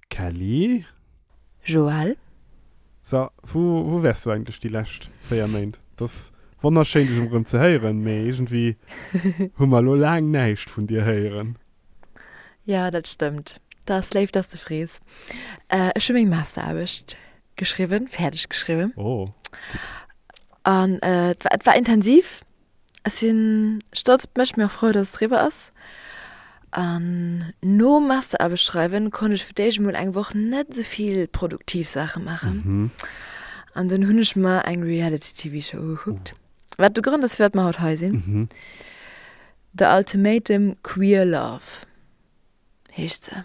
Kelly? Joël? So, wou, wou wärs du eigentlech déi lescht 4 Méint? Et ass wonnerschéin, dech emrem ze héieren, mee iergendwéi hu mer elo laang näischt vun dir héieren. Jo, dat stëmmt. Dat ass léif, dass du frees. Ech hu meng Masteraarbecht geschriwwen, fäerdeg geschriwwen. Oh, gutt. An et war, et war intensiv. Ech sinn stolz op mech, mee och frou, dass et eriwwer ass. An nom Masteraarbecht schreiwen konnt ech fir d'éischt emol eng Woch net esou vill produktiv Saache maachen. An dunn hunn ech mer eng Reality-TV-Show ugekuckt. Wat de Grond ass, firwat mer haut hei sinn. The Ultimatum Queer Love heescht se.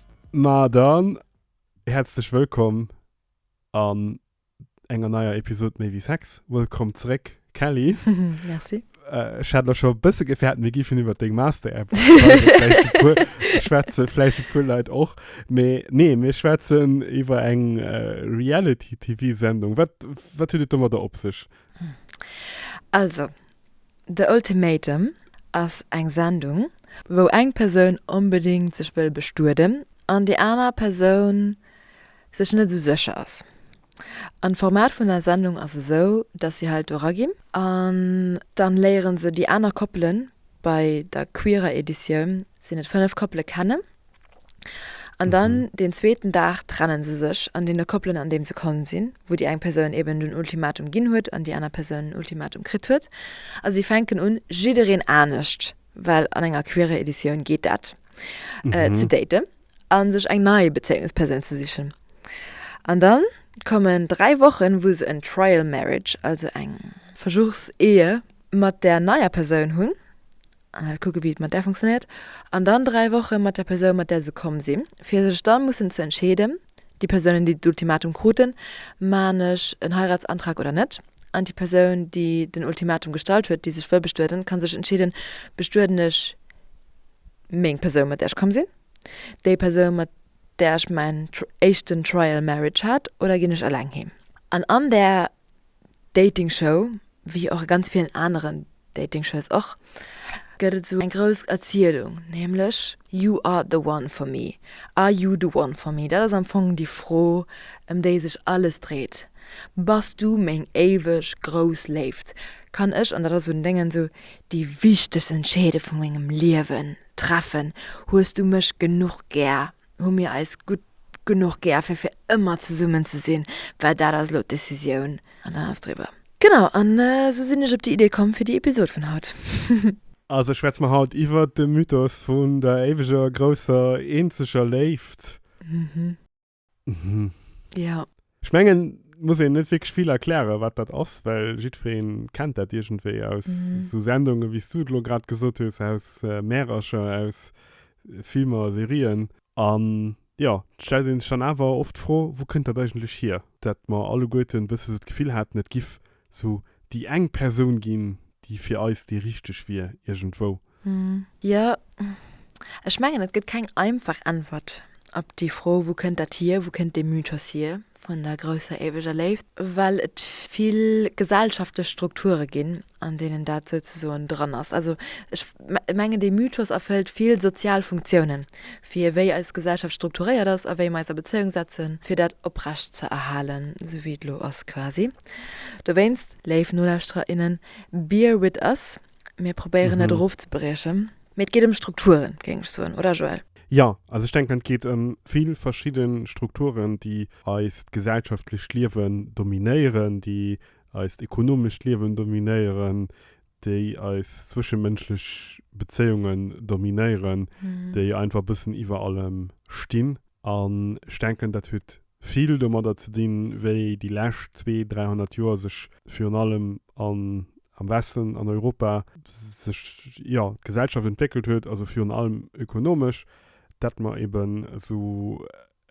Ma dann, häerzlech wëllkomm an enger neier Episod Méi wéi Sex. Wëllkomm zréck Kelly. Merci. Ech hat lech scho e bësse gefäert, mir giffen iwwer deng Master-App schwätzen, vläicht e puer Leit och. Mee nee, mir schwätzen iwwer eng Reality-TV-Sendung. Wat, wat huet et domadder op sech? Also, The Ultimatum ass eng Sendung, wou eng Persoun onbedéngt sech wëll bestueden an déi aner Persoun sech net esou sécher ass. An d'Format vun der Sendung ass esou, dass si halt do eraginn an dann léiere se déi aner Koppelen, bei der queerer Editioun sinn et 5 Koppele, kennen An dann deen zweeten Dag trennen se sech an deene Koppelen an deem se komm sinn, wou déi eng Persoun eben den Ultimatum ginn huet an déi aner Persoun en Ultimatum kritt huet. A si fänken un jiddereen anescht, well an enger queerer Editioun geet dat, ze daten a sech eng nei Bezéiungspersoun ze sichen. An dann kommen dräi Wochen, wou se en Trial Marriage, also eng. Versuchsehe mat där neier Persoun hunn. Al kucke wéi et mat där funktionéiert. An dann 3 Woche mat der Persoun mat där se komm sinn, fir sech dann mussen ze entscheeden, déi Persounen déi d'Ultimatum kruten, Maan ech en Heiratsantrag oder net? An déi Persoun déi den Ultimatum gestallt huet, déi sech wëll bestueden, ka sech entscheeden, Bestueden ech meng Persoun mat där ech komm sinn, déi Persoun mat där ech mäin éischten Trial Marriage hat, oder ginn ech eleng heem? An an där Dating Show, wéi och a ganz villen aneren Dating Shows och, gëtt et esou eng grouss Erzielung, nämlech You are the one for me, Are you the one for me? Dat ass am Fong déi Fro, ëm déi sech alles dréit, Bass du meng éiweg grouss Léift? Kann ech, an dat ass un Déngen esou, déi wichtegst Entscheede vu mengem Liewen treffen? Hues du mech genuch gär? Hu mir eis gutt genuch gär fir fir ëmmer zesummen ze sinn? Well dat ass elo d'Decisioun an dann ass driwwer. Genau, an esou sinn ech op déi Idee komm fir déi Episod vun haut. Also schwätze mer haut iwwert de Mythos vun der éiweger, grousser, eenzeger Léift. Mhm. Mhm. Jo. Ech mengen, muss een net wierklech vill erklären, wat dat ass, well jiddweree kennt dat iergendwéi aus esou Sendungen, wéi s du et elo grad gesot hues, aus Märercher, aus Filmer a Serien. An jo, et stellt ee sech dann awer oft d'Fro, Wou kënnt dat eigentlech hier, dat mer alleguerten e bësse sou d'Gefill haten, et giff Sou déi eng Persoun ginn, déi fir eis déi richteg wier, iergendwou. Jo, ech mengen, et gëtt keng einfach Äntwert op déi Fro, Wou kënnt dat hier, wou kënnt dee Mythos hier vun der grousser éiweger Léift? Well et vill gesellschaftlech Strukture ginn, an deenen dat souzesoen dran ass. Also ech mengen, dee Mythos erfëllt vill sozial Funktiounen, fir wéi eis Gesellschaft strukturéiert ass a wéi mer eis a Bezéiung setzen, fir dat oprecht ze erhalen, sou wéi et elo ass quasi. Dowéinst, léif Nolauschterer, innen, bear with us, mir probéieren et erofzebriechen, mee et geet ëm Strukturen, géing ech soen, oder Joël? Jo, also ech denken, et geet ëm vill verschidde Strukturen, déi eist gesellschaftlecht Liewen dominéieren, déi eist ekonomescht Liewen dominéieren, déi eis zwëschemënschlech Bezéiungen dominéieren, déi einfach e bëssen iwwer allem stinn. An ech denken, dat huet vill domadder ze dinn, wéi déi lescht zwee, dräihonnert Joer sech virun allem an, am Westen, an Europa sech, jo, d'Gesellschaft entwéckelt huet, also virun allem ökonomesch, dat mer eben esou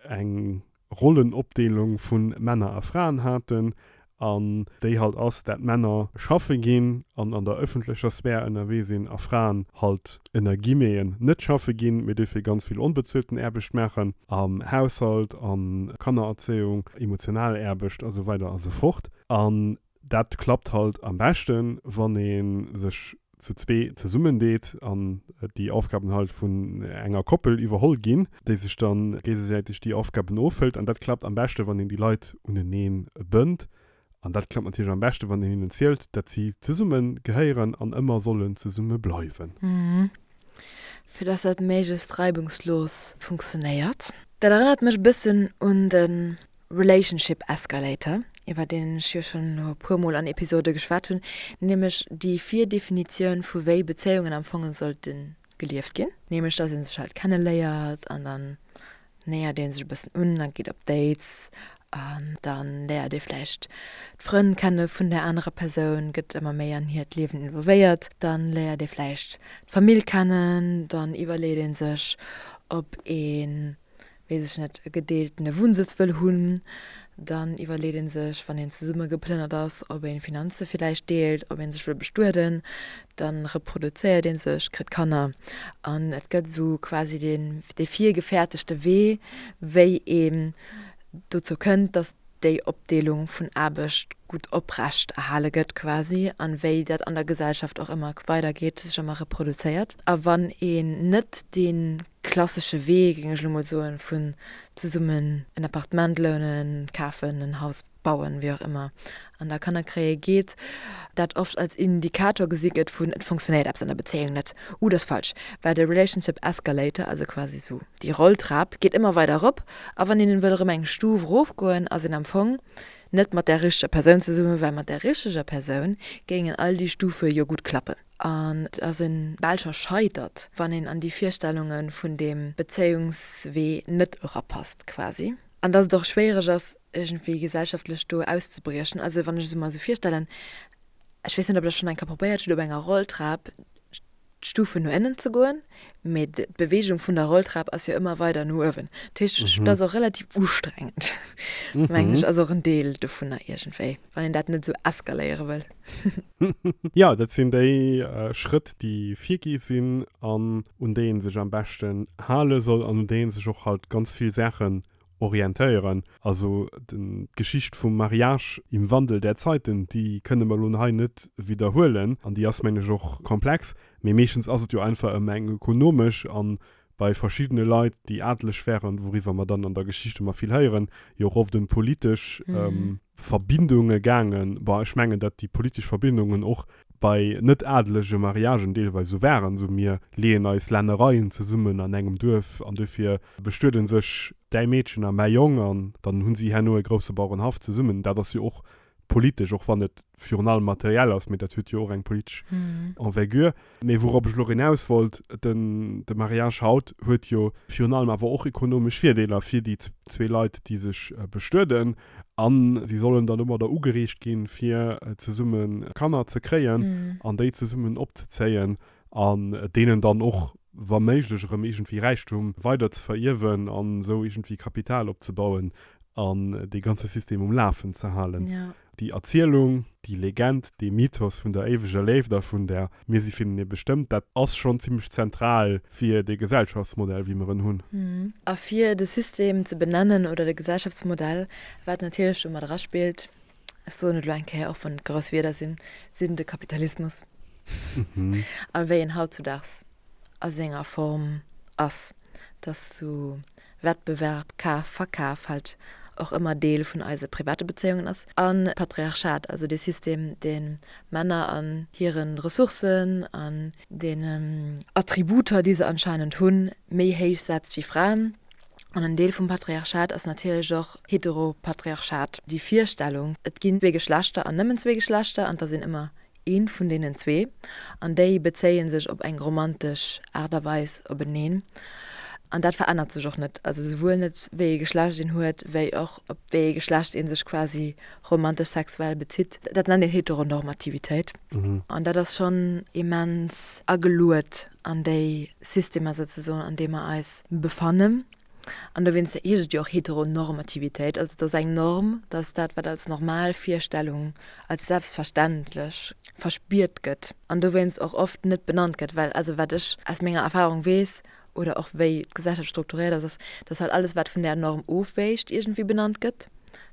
eng Rollenopdeelung vu Männer a Fraen haten, an déi halt ass, dat Männer schaffe ginn an an der ëffentlecher Sphär ënnerwee sinn, a Fraen halt ënner Guillemeten net schaffe ginn, mee dofir ganz vill onbezuelten Aarbecht maachen, am Haushalt, an Kannererzéiung, emotional Aarbecht, a sou weider a sou fort. An Dat klappt halt am beschten wann ee sech zu zwee zesummen deet an déi Aufgaben halt vun enger Koppel iwwerholl ginn, déi sech dann géigesäiteg déi Aufgaben ofhëlt an dat klappt am beschte wann een déi Leit uneneen bënnt an dat klappt natierlech am beschte wann een hinnen zielt dat si zesumme gehéieren an ëmmer sollen zesumme bleiwen. Fir dass dat méiglechst reibungslos funktionéiert. Dat erënnert mech e bëssen un de Relationship Escalator, iwwer deen ech jo schonn elo e puermol an Episode geschwat hunn, nämlech déi Virdefinitioun vu wéi Bezéiungen am Fong sollte gelieft ginn, nämlech dass ee sech halt kenneléiert an dann nähert ee sech e bëssen un a geet op Dates an dann léiert ee vläicht d'Frënn kenne vun där anerer Persoun, gëtt ëmmer méi an hiert Liewen involvéiert, dann léiert ee vläicht d'Famill kennen, dann iwwerleet ee sech, ob ee weess ech net, e gedeeltene Wunnsëtz wëll hunn, dann iwwerleet ee sech, wann een zesumme geplënnert ass, ob een d'Finanze villäicht deelt, ob ee sech wëll bestueden. Da reproduzéiert ee sech, kritt Kanner an et gëtt esou quasi deen, dee virgefäertegte Wee, wéi een dozou kënnt, datt déi Opdeelung vun Aarbecht gutt oprecht erhale gëtt quasi an wéi dat an der Gesellschaft och ëmmer weidergeet, sech ëmmer reproduzéiert. A wann een net dee klassesche Wee, géing ech elo mol soen, vun zesummen en Appartement lounen, kafen, en Haus bauen, wéi och ëmmer, an da Kanner kréie geet, dat oft als Indikator gesi gëtt vun, et funktionéiert eppes an der Bezéiung net, ou dat ass falsch, well de Relationship Escalator, also quasi esou déi Rolltrap, geet ëmmer weider erop, a wann een wëll erëm eng Stuf erofgoen, ass een am Fong net mat där richteger Persoun zesummen, well mat där richteger Persoun géingen all déi Stufe jo gutt klappen. An et ass e belscher Scheitert, wann een an déi Virstellunge vun deem Bezéiungswee net erapasst quasi. An datt et och schwéiereg ass, iergendwéi gesellschaftlech do auszebriechen. Also wann ech et mer esou virstellen, ech weess net, ob der schonn eng Kéier probéiert hutt, op enger Rolltrap d'Stufen no ënnen ze goen, mee d'Beweegung vun der Rolltrap ass jo ëmmer weider no uewen. Dat heescht, dat ass och relativ ustrengend, mengen ech. Ass och en Deel dovunner iergendwéi. wann een dat net esou eskaléiere wëll. Jo, dat sinn déi Schrëtt, déi virgi sinn an un déi ee sech am beschten hale soll an un déi ee sech och halt ganz vill Saachen orientéieren. Also d'Geschicht vum Mariage im Wandel der Zeiten, déi kënne mer elo hei net widderhuelen an déi ass, mengen ech, och komplex, mee meeschtens ass et jo einfach ëm eng ökonomesch a bei verschiddene Leit, déi adeleg wären, wouriwwer mer dann an der Geschicht ëmmer vill héieren, jo och oft ëm politesch Verbindunge gaangen. Bon, ech mengen, datt déi politesch Verbindungen och bei net-adelege Mariagen deelweis esou waren, esou mir leeën eis Lännereien zesummen an engem Duerf an duerfir bestuede sech däi Meedchen a mäi Jong an dann hu si herno e grousse Bauerenhaff zesummen. Dat ass jo och politesch, och wann et virun allem materiell ass, mee dat huet jo och eng politesch Envergure. Mee wourop ech elo erëm eraus wollt, den, de Mariage haut huet jo virun allem awer och ekonomesch Virdeeler fir déi zwee Leit, déi sech bestueden a si sollen dann domadder ugereegt ginn, fir zesummen Kanner ze kréien an déi zesummen opzezéien. an deenen dann och wa méiglech erëm iergendwéi Räichtum weider ze verierwen an esou iergendwéi Kapital opzebauen an dee ganze System um Lafen ze halen. Déi Erzielung, déi Legend, dee Mythos vun der éiweger Léift a vun der Mir si vun Dir bestëmmt, dat ass schonn zimmlech zentral fir dee Gesellschaftsmodell wéi mer en hunn. A fir de System ze benennen oder de Gesellschaftsmodell, wat natierlech domat eraspillt, ech soen et elo eng Kéier, och wann et grouss Wierder sinn, sinn de Kapitalismus a wéi en hautzudaags a senger Form ass, dass du Wettbewerb, Kaf, Verkaf halt och ëmmer Deel vun eise private Bezéiungen ass. An d'Patriarchat, also dee System, dee Männer an hire Ressourcen, an den Attributer, déi se anscheinend hunn, méi héich setzt wéi Fraen. An en Deel vum Patriarchat ass natierlech och Heteropatriarchat, déi Virstellung, et ginn zwee Geschlechter an nëmmen zwee Geschlechter an et ass een ëmmer eent vun deenen zwee an déi bezéie sech op eng romantesch Aart a Weis openeen. An dat verännert sech och net, also souwuel net wéi ee Geschlecht een huet, wéi och op wéi ee Geschlecht ee sech quasi romantesch sexuell bezitt. Dat nennt een Heteronormativitéit. An dat ass schonn immens ageluet an déi Systemer souzesoen, an deem mer eis befannen. An dowéinst heescht et jo och Heteronormativitéit. Also et ass eng Norm, dass dat, wat als normal Virstellung, als selbstverständlech verspiert gëtt an dowéinst och oft net benannt gëtt. Well also wat ech aus menger Erfahrung weess, oder och wéi d'Gesellschaft strukturiert ass, ass, dass halt alles, wat vun där Norm ofwäicht, iergendwéi benannt gëtt.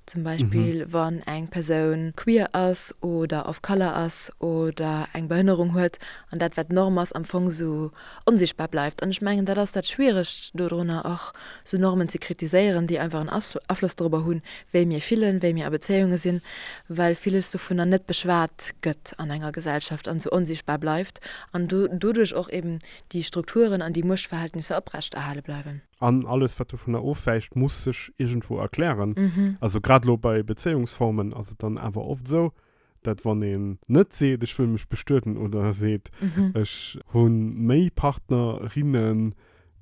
Zum Beispill, wann eng Persoun queer ass oder of color ass oder eng Behënnerung huet an dat, wat d'Norm ass, am Fong esou onsichtbar bleift. An ech mengen, dat ass dat Schwieregt dodrunner, och esou Normen ze kritiséieren, déi einfach en Afloss dorobber hunn, wéi mir fillen, wéi mir a Bezéiunge sinn, well viles dovunner net beschwat gëtt an enger Gesellschaft an esou onsichtbar bleift an doduerch och eben déi Strukturen an déi Muechtverhältnisser oprechterhale bleiwen. An alles, wat dovunner ofwäicht, muss sech iergendwou erklären. Also grad elo bei Bezéiungsformen ass et dann awer oft esou, dat wann een net seet, ech wëll mech bestueden oder seet, ech hu méi Partner, rinnen,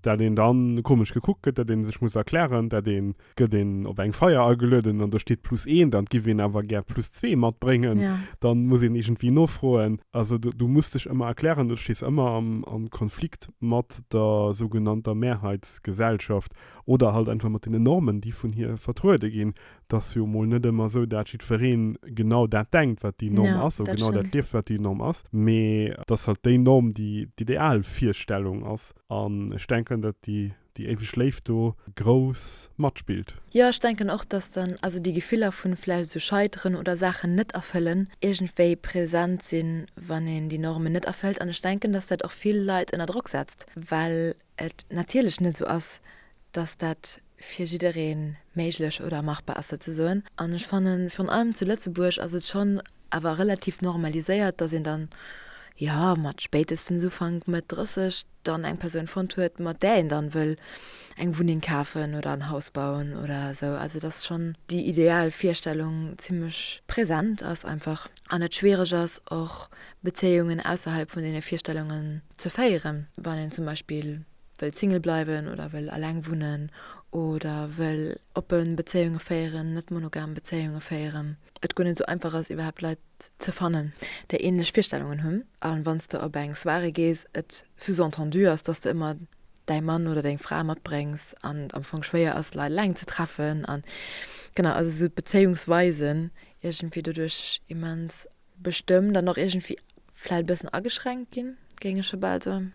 dat een dann komesch gekuckt gëtt, dat ee sech muss erklären, dat een gëtt een op eng Feier agelueden an do steet plus eent an giff een awer gär plus zwee matbréngen, ja. dann muss een iergendwéi nofroen. Also du, du musst dech ëmmer erklären, du stees ëmmer am, am Konflikt mat der sougenannter Mehrheitsgesellschaft oder halt einfach mat den Normen, déi vun hir vertruede ginn. Dass jo mol net ëmmer esou, dat jiddwereen genau dat denkt, wat déi Norm ja, ass, ou genau dat lieft, wat déi Norm ass, mee dass halt déi Norm déi d'Idealvirstellung ass. An ech denken, dat déi déi éiweg Léift do grouss matspillt. Jo, ech denken och, dass dann also déi Gefiller vun vläicht esou Scheiteren oder Saachen net erfëllen iergendwéi präsent sinn, wann een déi Normen net erfëllt. An ech denken, dass dat och vill Leit ënner Drock setzt, well et natierlech net esou ass, dass dat fir jidderee méiglech oder machbar ass souzesoen. An ech fannen, virun allem zu Lëtzebuerg ass et schonn awer relativ normaliséiert, dass een dann, jo, mat spéitestens Ufank, Mëtt 30 dann eng Persoun fonnt huet, mat där een dann wëll eng Wunneng kafen oder en Haus bauen oder esou. Also dass schonn déi ideal Virstellung zimmlech present ass einfach an et schwiereg ass, och Bezéiungen ausserhalb vun deene Virstellungen ze féieren, wann een zum Beispill wëll Single bleiwen oder wëll eleng wunnen oder wëll oppe Bezéiunge féieren, net monogam Bezéiunge féieren. et guer net esou einfach ass iwwerhaapt Leit ze fannen, déi ähnlech Virstellungen hunn, a wann s de op eng Soirée gees, et sous-entendu ass, dass de ëmmer däi Mann oder deng Fra matbréngs an et am Fong schwéier ass, Leit eleng ze treffen an genau, also esou d'Bezéiungsweisen iergendwéi doduerch immens bestëmmt an och iergendwéi vläicht e bëssen ageschränkt ginn, géing ech scho bal soen.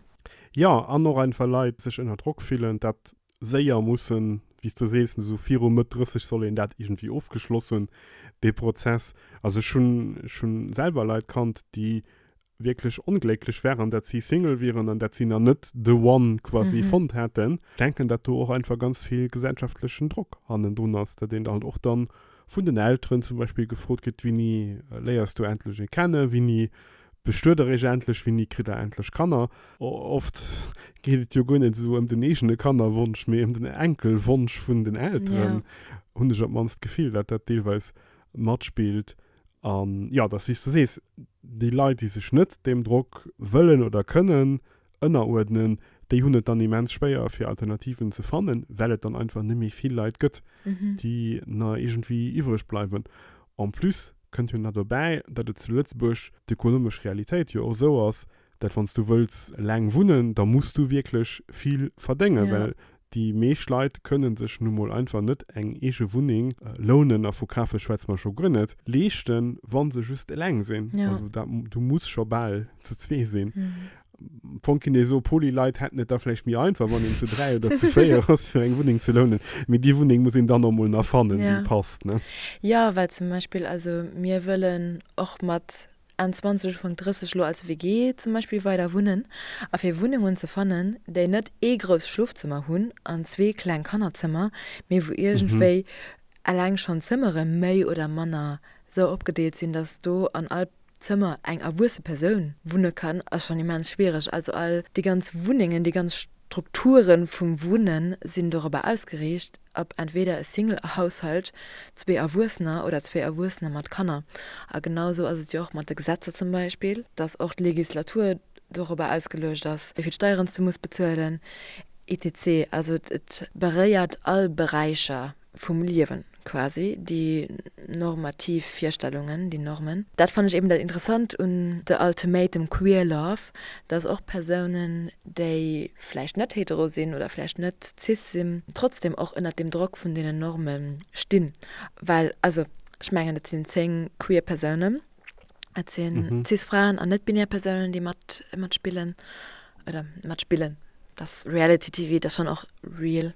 Jo, an och einfach Leit sech ënner Drock fillen, dat séier mussen, wéi s du sees, esou viru Mëtt 30 soll een dat iergendwéi ofgeschloss hunn, dee Prozess. Also ech hunn, ech hu selwer Leit kannt, déi wierklech onglécklech waren, dat si Single wieren an dat si nach net the one quasi fonnt haten. Ech denken, dat do och einfach ganz vill gesellschaftlechen Drock hannendrun ass, dat een da halt och dann. vun den Elteren zum Beispill gefrot gëtt, Winni léiers du endlech ee kennen, winni bestuet der iech endlech, winni kritt der endlech Kanner? Oft geet et jo guer net esou ëm den eegene Kannerwonsch, mee ëm den Enkelwonsch vun den Elteren, hunn ech op d'mannst d'Gefill, datt dat deelweis matspillt. An jo, et ass wéi s du sees, déi Leit, déi sech net deem Drock wëllen oder kënnen ënneruerdnen, déi hunn et dann immens schwéier fir Alternativen ze fannen, well et dann einfach net méi vill Leit gëtt, déi nach iergendwéi iwwreg bleiwen. En plus kënnt jo nach dobäi, datt et zu Lëtzebuerg d'ökonomesch Realitéit jo och esou ass, datt wann s du wëlls laang wunnen, da muss du wierklech vill verdéngen, well Déi meescht Leit kënnen sech nu mol einfach net eng eege Wunneng, lounen a vu kafe schwätze mer scho guer net, leeschten, wa se just eleng sinn. Also dat, du muss scho bal zu zwee sinn. Am Fong kinnt ee soe poli, Leit hätten et da vläicht méi einfach, wann een zu dräi oder zu véier ass, fir eng Wunneng ze lounen. Mee déi Wunneng muss een dann och mol nach fannen, déi passt. Jo, well zum Beispill, also mir wëllen och mat Enn 20 ufank 30 elo als WG zum Beispill weider wunnen a fir Wunnungen ze fannen déi net ee grousst Schlofzëmmer hunn an zwee kleng Kannerzëmmer mee wou iergendwéi eleng schonn d'Zëmmere méi oder manner sou opgedeelt sinn dass do an all Zëmmer eng erwuesse Persoun wunne kann ass schonn immens schwiereg. Also all déi ganz Wunnengen, déi ganz Strukture vum Wunnen sinn dorobber ausgeriicht, Ob entweder e Single-Haushalt, zwee Erwuessener oder zwee Erwuessener mat Kanner. A genau esou ass et jo och mat de Gesetzer zum Beispill, dass och d'Legislatur dorobber ausgeluecht ass, wéi vill Steieren s du muss bezuelen etc. Also et beréiert all Beräicher vum Liewen quasi, déi normativ Virstellungen, déi Normen. Dat fannen ech eben dat Interessant un The Ultimatum Queer Love, dass och Persounen, déi vläicht net hetero sinn oder vläicht net cis sinn, trotzdem och ënnert dem Drock vun deenen Norme stinn. Well also, ech mengen, et sinn zéng queer Persounen, et si cis Fraen an net-binär Persounen, déi mat, matspillen oder matspillen. Dass Reality TV, dat ass schonn och real.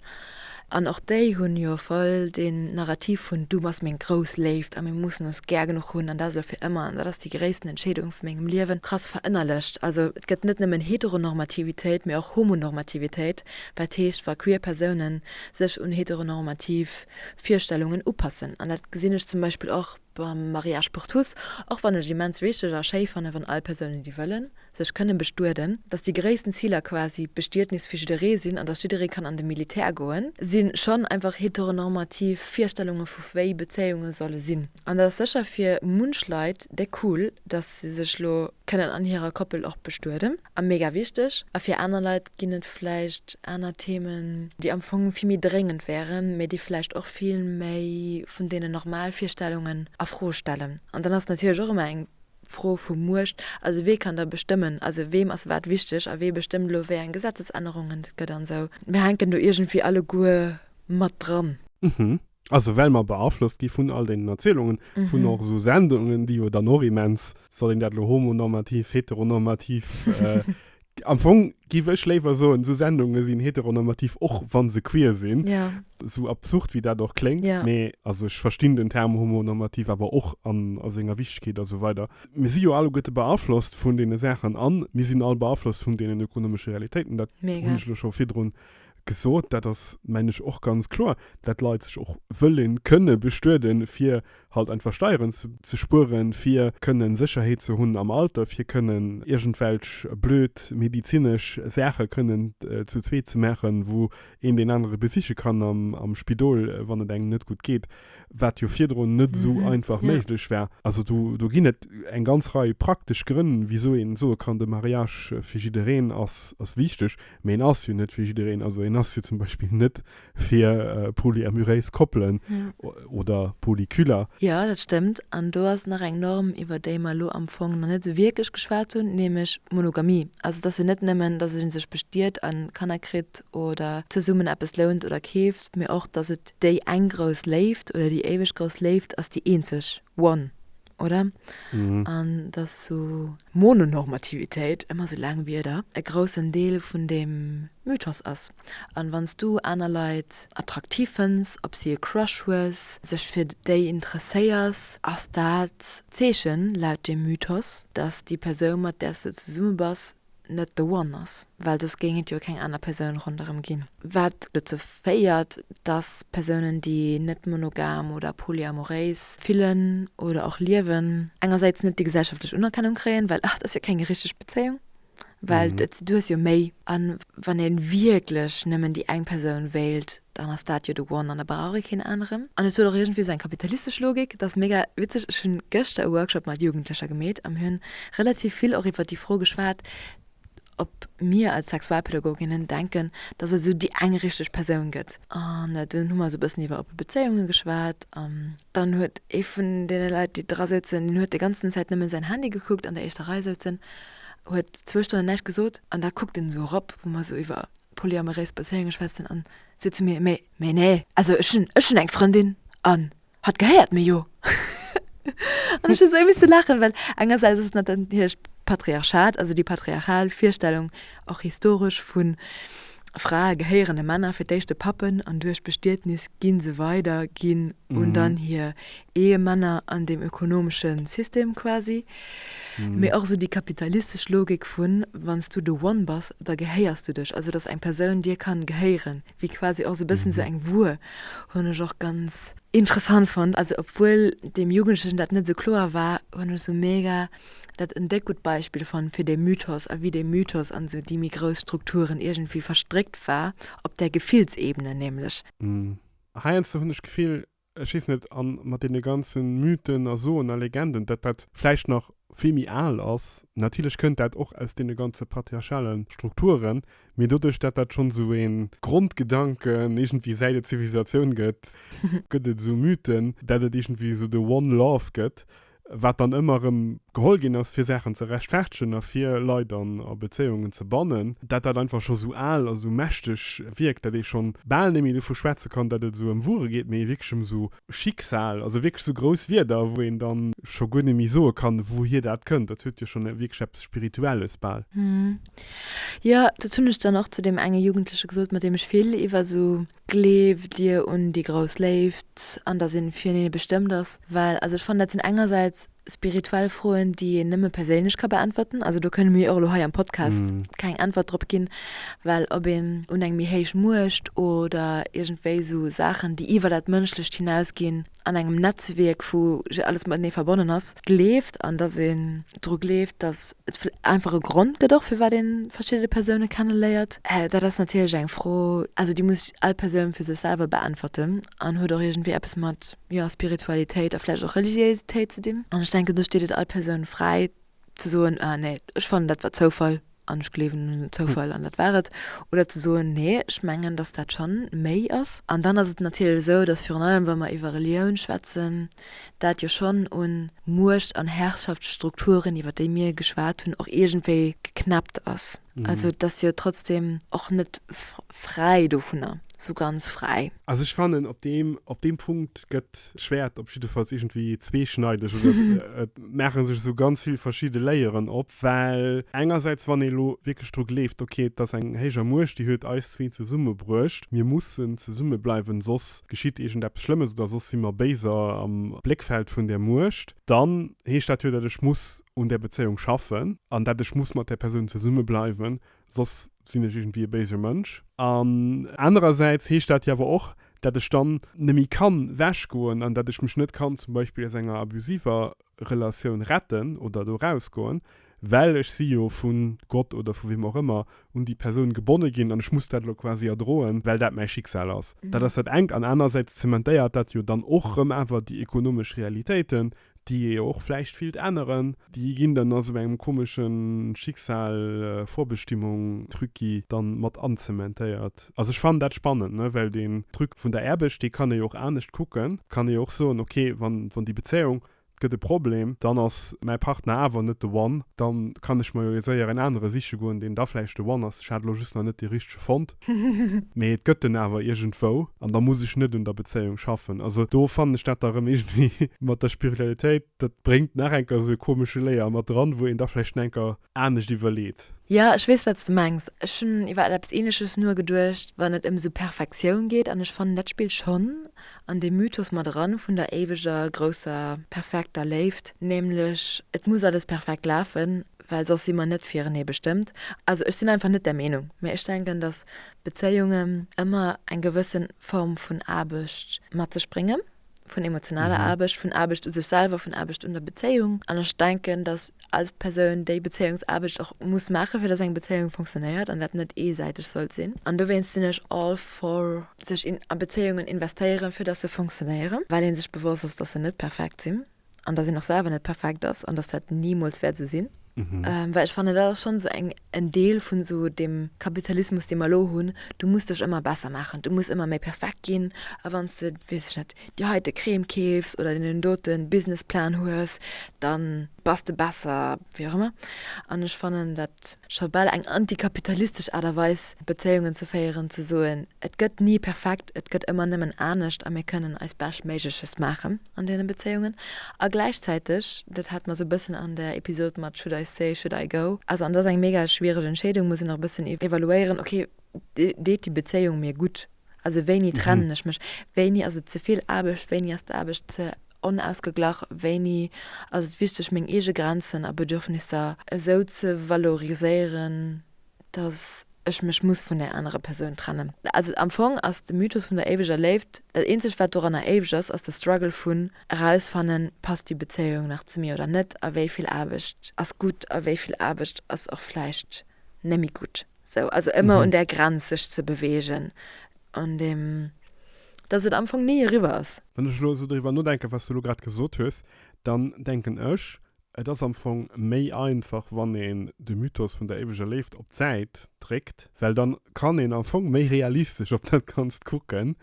An och déi hunn jo voll deen Narrativ vun du bass meng grouss Léift a mir mussen ons gär genuch hunn an dat elo fir ëmmer an dat ass déi gréissten Entscheedung vu mengem Liewen krass verënnerlecht. Also et gëtt net nëmmen Heteronormativitéit, mee och Homonormativitéit, wat heescht wa queer Persounen sech un heteronormativ Virstellungen upassen. An dat gesinn ech zum Beispill och. Beim Mariage pour tous, och wann ech immens wichteg a schéi fannen, wann all Persounen, déi wëllen, sech kënnen bestueden, dass déi gréissten Ziler quasi d'Bestiednis fir jidderee sinn an dass jidderee kann an de Militär goen, si schonn einfach heteronormativ Virstellunge vu wéi Bezéiunge solle sinn. An dat ass sécher fir munch Leit dé cool, dass se sech elo kënnen an hirer Koppel och bestueden. a mega wichteg a fir aner Leit ginn et vläicht aner Themen, déi am Fong vill méi dréngend wären, mä déi vläicht och vill méi vun deenen normal Virstellungen a Fro stellen. An dann ass et natierlech och ëmmer eng Fro vu Muecht, also wee kann da bestëmmen, also weem ass wat wichteg a wee bestëmmt elo wéi eng Gesetzesännerungen et gëtt an esou. Mir hänken do iergendwéi alleguer mat dran. Hm, Also well mer beaflosst gi vun all deenen Erzielungen, vun och esou Sendungen, déi jo dann och immens, soll een dat elo homonormativ, heteronormativ, am Fong giff ech léiwer soen, esou Sendunge sinn heteronormativ, och wa se queer sinn, esou absurd wéi dat och kléngt, mee also ech verstinn den Term homonormativ awer och an a senger Wichtegkeet a sou weider. Mir si jo alleguerte beaflosst vun deene Saachen an mir sinn all beaflosst vun deenen ökonomesche Realitéiten, dat hunn ech elo scho virdrun Gesot, dat ass, mengen ech, och ganz kloer, dat d'Leit sech och wëllen kënnen bestueden, fir halt einfach Steieren ze spueren, fir kënnen Sécherheet ze hunn am Alter, fir kënnen iergendwelch blöd medizinesch Saache kënnen zu zweet ze maachen, wou een deen anere besiche kann am Spidol, wann et engem net gutt geet, wat jo virdrun net esou einfach méiglech war. Also do ginn et eng ganz Rei praktesch Grënn, wisou een soe kann, de Mariage fir jiddereen ass wichteg. Mee een ass jo net fir jiddereen. Also een ass jo zum Beispill net fir polyamuréis Koppelen oder Polyküler. Jo, dat stëmmt. An do ass nach eng Norm, iwwer déi mer elo am Fong nach net esou wierklech geschwat hunn, nämlech d'Monogamie. Also et ass jo net nëmmen, dass ee sech bestiet a Kanner kritt oder zesummen eppes lount oder keeft, mee och, dass et déi eng grouss Léift oder déi éiweg grouss Léift ass, déi eenzeg, one, oder? Mhm. An dass so Mononormativitéit, ëmmer so laang Wierder, e groussen Deel vun deem Mythos ass. An wann s du aner Leit attraktiv fënns, op si e Crush hues, sech fir déi interesséiers, ass dat d'Zeechen, laut deem Mythos, dass déi Persoun, mat där s de zesumme bass, net the one ass, well soss géing et jo keng aner Persoun ronderëm ginn. Wat dozou féiert, dass Persounen, déi net monogam oder polyamoréis fillen oder och liewen, engersäits net déi gesellschaftlech Unerkennung kréien, well et ass jo keng richteg Bezéiung, well du hues jo méi. A wann ee wierklech nëmmen déi eng Persoun wéilt, dann ass dat jo de One an da brauch ee keen aneren. An et huet och iergendwéi esou eng kapitalistesch Logik. Dat ass mega witzeg, ech hunn gëschter e Workshop mat Jugendlecher gemeet an mir hunn relativ vill och iwwer déi Fro geschwat, ob mir als Sexualpädagoginnen denken, dass et esou déi eng richteg Persoun gëtt. An dunn hu mer esou e bëssen iwwer oppe Bezéiunge geschwat an dann huet ee vun deene Leit, déi dra souzen, deen huet déi ganzen Zäit nëmmen säin Handy gekuckt, an der éischter Rei souzen, huet zwou Stonnen näischt gesot an da kuckt en esou erop, wou mer esou iwwer polyamoréis Bezéiunge schwätzen an si zu mir, mee, mee nee, also ech hunn, ech hunn eng Frëndin an hatt gehéiert mir jo. An ech hu sou misse laachen, well engersäits ass dat dann hir Patriarchat, also déi patriarchal Virstellung, och historesch, vu Frae gehéieren de Männer, fir d'éischt de Pappen an duerch Bestietnis gi se weider ginn un dann hir Ehemänner an dem ökonomesche System quasi, mee och esou déi kapitalistesch Logik vu wann s du de One bass, da gehéiers du dech, also datt eng Persoun dir kann gehéieren, wéi quasi och esou e bëssen esou eng Wuer, hunn ech och ganz interessant fonnt. Also obwuel deem Jugendlechen dat net esou kloer war, hunn ech esou mega dat en déck gutt Beispill fonnt fir dee Mythos a wéi dee Mythos an esou déi méi grouss Strukturen iergendwéi verstréckt war, op där Gefillsebene nämlech. Heiansdo hunn ech d'Gefill, ech weess net, an mat deene ganze Mythen a Soen a Legenden, dat dat vläicht nach vill méi al ass. Natierlech kënnt dat och aus deene ganze patriarchale Strukturen, mee doduerch dat dat schonn esou ee Grondgedanken iergendwéi säit et Zivilisatioun gëtt, gëtt et esou Mythen, dat et iergendwéi esou de One Love gëtt. wat dann ëmmer erëm geholl ginn ass, fir Saachen ze rechtfertegen a fir Leit an a Bezéiungen ze bannen, dat dat einfach scho sou al a sou mächteg wierkt, dat ee schonn bal net méi dovu schwätze kann, dat et esou ëm Wuere geet, mee wierklech ëm sou Schicksal, also wierklech sou grouss Wierder, wou een dann scho guer net méi soe kann, wouhier dat kënnt. Dat huet jo schonn wierklech eppes Spirituelles bal. Jo, dat hunn ech dann och zu deem enge Jugendleche gesot, mat deem ech vill iwwer esou Gleeft dir un déi grouss Léift, an dass een fir hinne bestëmmt ass? Well also ech fannen dat sinn engersäits spirituell Froen déi een nëmme perséinlech ka beäntwerten, also do kënne mir och elo hei am Podcast keng Äntwert drop ginn, well ob een un eng méi héich Muecht oder iergendwéi esou Saachen déi iwwer dat Mënschlecht hinausginn, an engem Netzwierk vu je alles matenee verbonnen ass, gleeft an datt een dru gleeft, datt et vill einfach e Grond gëtt och firwat ee verschiddene Persoune kenneléiert. Dat ass natierlech eng Fro, also déi muss all Persoun fir sech selwer beäntwerten an huet och iergendwéi eppes mat, jo, Spiritualitéit a vläicht och Religiéisitéit ze dinn. An ech denken, do steet et all Persoun fräi, ze soen, ah nee, ech fannen, dat war Zoufall an ech gleewen un den Zoufall an dat war et, oder ze soen, nee, ech mengen, datt dat schonn méi ass. An dann ass et natierlech esou, datt virun allem, wa mer iwwer Relioun schwätzen, dat jo schonn u Muecht an Herrschaftsstrukturen, iwwer déi mir geschwat hunn, och iergendwéi geknäppt ass. Also et ass jo trotzdem och net fräi dovunner, sou ganz fräi. Also ech fannen, op deem, op deem Punkt gëtt d'Schwäert op jiddefalls iergendwéi zweeschneideg oder et maache sech esou ganz vill verschidde Layeren op. Well engersäits, wann ee elo wierklech dru gleeft, okay, et ass eng héijer Muecht, déi huet eis zwee zesummebruecht, mir mussen zesumme bleiwen, soss geschitt iergendeppes Schlëmmes oder soss si mer béiser am Bléckfeld vun där Muecht, dann heescht dat jo, datt ech muss un där Bezéiung schaffen an dat ech muss mat där Persoun zesumme bleiwen, soss sinn ech iergendwéi e béise Mënsch. An anerersäits heescht dat jo awer och, dat ech dann neméi kann wech goen an dat ech mech net kann zum Beispill aus enger abusiver Relatioun retten oder do raus goen, well ech si jo vu Gott oder vu wem och ëmmer un déi Persoun gebonne ginn an ech muss dat elo quasi erdroen, well dat mäi Schicksal ass. Dat ass dat engt an anerersäits zementéiert dat jo dann och rëm awer déi ekonomesch Realitéiten, déi ee jo och vläicht willt änneren, déi ginn dann a sou engem komesche Schicksal-Vorbestimmung-Trucki dann mat anzementéiert. Also ech fannen dat spannend, ne, well deen Truc vun der Erbescht, dee kann ee jo och anescht kucken. Et kann ee jo och soen, ok, wann, wann déi Bezéiung, et gëtt e Problem, dann ass mäi Partner awer net de One, dann kann ech mer jo séier en anere siche goen, deen da vläicht de One ass, ech hat elo just nach net dee richtege fonnt. Mee et gëtt en awer iergendwou, an da muss ech net un der Bezéiung schaffen. Also do fannen ech dat da rëm iergendwéi mat der Spiritualitéit, dat bréngt nach eng Kéier esou e komesche Layer mat dran, wou een da vläicht schonn eng Kéier anescht iwwerleet. Jo, ech weess, wat s de mengs. Ech hunn iwwer eppes Ähnleches nogeduecht, wann et ëm esou Perfektioun geet. An ech fannen, dat spillt schonn an dee Mythos mat eran vun der éiweger, grousser, perfekter Léift, nämlech et muss alles perfekt lafen. well soss si mer net firenee bestëmmt. Also ech sinn einfach net där Meenung, mä ech denken, datt Bezéiungen ëmmer eng gewësse Form vun Aarbecht mat sech bréngen, vun emotionaler Aarbecht, vun Aarbecht u sech selwer, vun Aarbecht un der Bezéiung. An ech denken, datt all Persoun déi Bezéiungsaarbecht och muss maachen, fir datt eng Bezéiung funktionéiert an dat net eesäiteg sollt sinn. An dowéinst sinn ech all for sech a Bezéiungen investéieren, fir datt se funktionéieren, well ee sech bewosst ass, datt se net perfekt sinn. an dass een och selwer net perfekt ass an dass dat nimools wäert esou sinn. Mhm. Ähm, well ech fanne dat ass schon so eng en Deel vun so dem Kapitalismus dee mer lo hunn, du muss dech ëmmer besser maachen, du muss ëmmer méi perfekt ginn a wann s de weess ech net déi heite Crème keefs oder deen doten Businessplan hues, dann bass de besser, wéi och ëmmer. An ech fannen dat scho bal eng antikapitalistesch Aart a Weis Bezéiungen ze féieren, ze soen et gëtt ni perfekt, et gëtt ëmmer nëmmen anescht a mir kënnen eist Beschtméigleches maachen. an deene Bezéiungen a gläichzäiteg, dat hate mer esou e bëssen an der Episod mat Should I stay, should I go? Also an et ass eng mega schwiereg Entscheedung, muss een och e bëssen evaluéieren, okay, deet déi Bezéiung mir gutt? Also wéini trennen ech mech? Wéini ass et ze vill Aarbecht? Wéini ass d'Aarbecht ze onausgeglach? Wéini ass et wichteg, meng eege Grenzen a Bedürfnisser esou ze valoriséieren, dass ech mech muss vun där anerer Persoun trennen. Also am Fong ass de Mythos vun der éiweger Léift, dat eenzegt wat doranner éiweg ass, ass de Struggle vun erausfannen, passt déi Bezéiung nach zu mir oder net a wéi vill Aarbecht ass gutt a wéi vill Aarbecht ass och vläicht némmi gutt. Sou, also ëmmer un där Grenz sech ze beweegen, un deem dass et am Fong ni eriwwer ass. Wann ech elo esou driwwer nodenken, wat s du elo grad gesot hues, dann denken ech, Et ass am Fong méi einfach wann een de Mythos vun der éiweger Léift op d'Säit dréckt, well dann kann een am Fong méi realistesch op dat Ganzt kucken.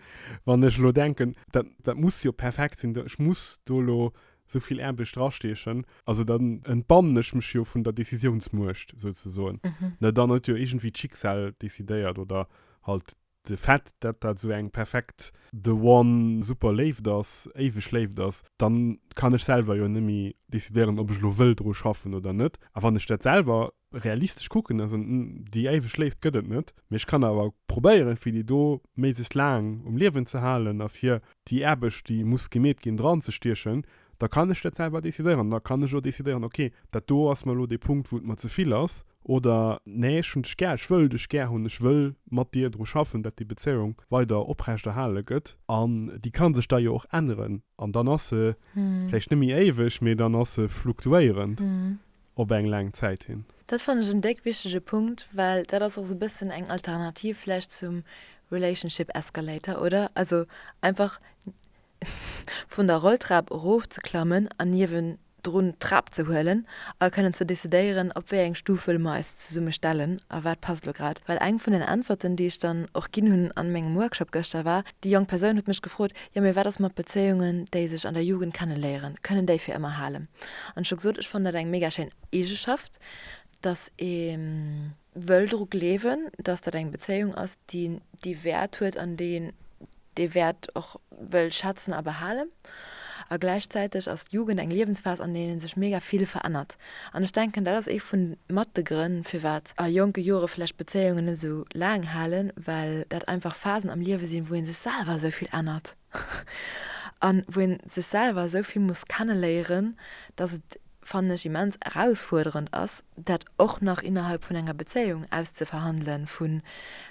Wann ech elo denken, dat dat muss jo perfekt sinn, ech muss do elo sou vill Aarbecht drastiechen, also dann entbannen ech mech jo vun der Décisiounsmuecht souzesoen, ne, dann huet jo iergendwéi d'Schicksal decidéiert oder halt De Fait, dat dat esou eng perfekt The One, super Léift ass, éiweg Léift ass, dann kann ech selwer jo nemmi decidéieren, ob ech elo wëll dru schaffen oder net. A wann ech dat selwer realistesch kucken, also déi éiweg Léift gëtt et net, mee ech kann awer probéieren, fir déi do méiglechst laang um Liewen ze halen a fir déi Aarbecht, déi muss gemeet ginn, dran ze stiechen, da kann ech dat selwer decidéieren. Da kann ech och decidéieren, ok, dat do ass mer elo dee Punkt, wou et mer ze vill ass. oder nee ech hunn dech gär, ech wëll dech gär hunn, ech wëll mat dir dru schaffen, dat déi Bezéiung weider oprecht erhale gëtt. An déi ka sech da jo och änneren an dann ass se vläicht net méi éiweg, mee dann ass se fluktuéierend op eng laang Zäit hin. Dat fannen ech en déck wichtege Punkt, well dat ass och esou e bëssen eng Alternativ vläicht zum Relationship Escalator, oder? Also einfach vun der Rolltrap erof ze klammen an niewendrun d'Trap ze huelen a kënnen ze decidéieren, op wéi eng Stufel mer eis zesumme stellen a wat passt elo grad. Well eng vun den Äntwerten, déi ech dann och ginn hunn a mengem Workshop gëschter, war, déi jonk Persoun huet mech gefrot, Jo, mee wat ass mat Bezéiungen, déi sech an der Jugend kenneléieren? Kënnen déi fir ëmmer halen? An ech hu gesot, ech fannen dat eng mega schéin Eegeschaft, dass ee. wëll dru gleewen, dass dat eng Bezéiung ass, déi déi Wäert huet an déi een dee Wäert och wëll schätzen a behalen. A gläichzäiteg ass d'Jugend eng Liewensphas, an deene sech mega vill verännert. An ech denken, dat ass ee vu mat de Grënn, firwat a jonke Jore vläicht Bezéiungen net esou laang halen, well dat einfach Phasen am Liewe sinn, wou ee sech selwer esou vill ännert. a wou een sech selwer esou vill muss kenneléieren, dass et, fannen ech, immens erausfuerderend ass, dat och nach innerhalb vun enger Bezéiung auszeverhandelen, vu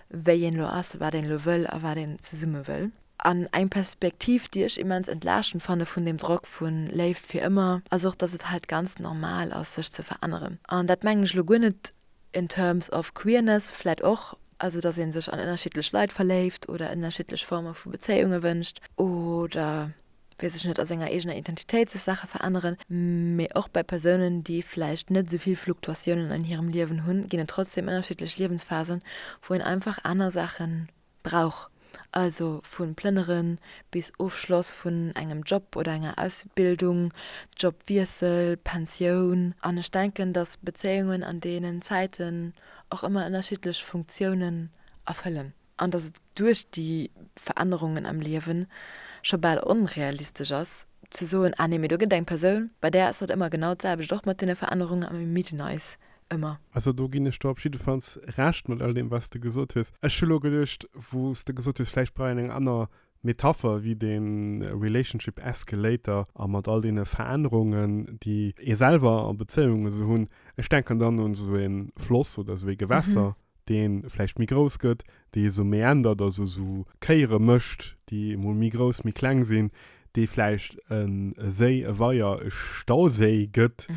wéi een elo ass, wat een elo wëll a wat een zesumme wëll. An eng Perspektiv, déi ech immens entlaaschend fanne vun deem Drock vu Léift fir ëmmer, ass och, dass et halt ganz normal ass, sech ze veränneren. An dat mengen ech elo guer net In terms of queerness vläit och, also dass ee sech an ënnerschiddlech Leit verléift oder ënnerschiddlech Forme vu Bezéiunge wënscht oder, weess ech net, a senger eegener Identitéit sech Saache veränneren. Mee och bei Persounen, déi vläicht net esou vill Fluktuatiounen an hirem Liewen hunn, ginn et trotzdeem ënnerschiddlech Liewensphasen, wou een einfach aner Saachen brauch, also vu Plënnere bis Ofschloss vun engem Job oder enger Ausbildung, Jobwiessel, Pensioun. An ech denken, datt Bezéiungen an deenen Zäiten och ëmmer ënnerschiddlech Funktiounen erfëllen an datt et duerch déi Verännerungen am Liewe scho bal onrealistesch ass ze soen, ah nee, mee do gëtt et eng Persoun, bei där ass dat ëmmer genau d'selwecht, och mat deene Verännerungen, a mir midden eis ëmmer. Also do ginn ech der op jiddefalls Recht mat all deem wat s de gesot hues. Ech hu lo geduecht, wou s de gesot hues, vläicht brauch een eng aner Metapher wéi dee Relationship Escalator a mat all deene Verännerungen, déi ee selwer a Bezéiungen esou hunn. Ech denken dann un esou e Floss oder esou e Gewässer. dee vläicht méi grouss gëtt, dee sou méi ändert, also sou Kéiere mécht, déi emol méi grouss, méi kleng sinn, dee vläicht e Séi, e Weier, e Stauséi gëtt,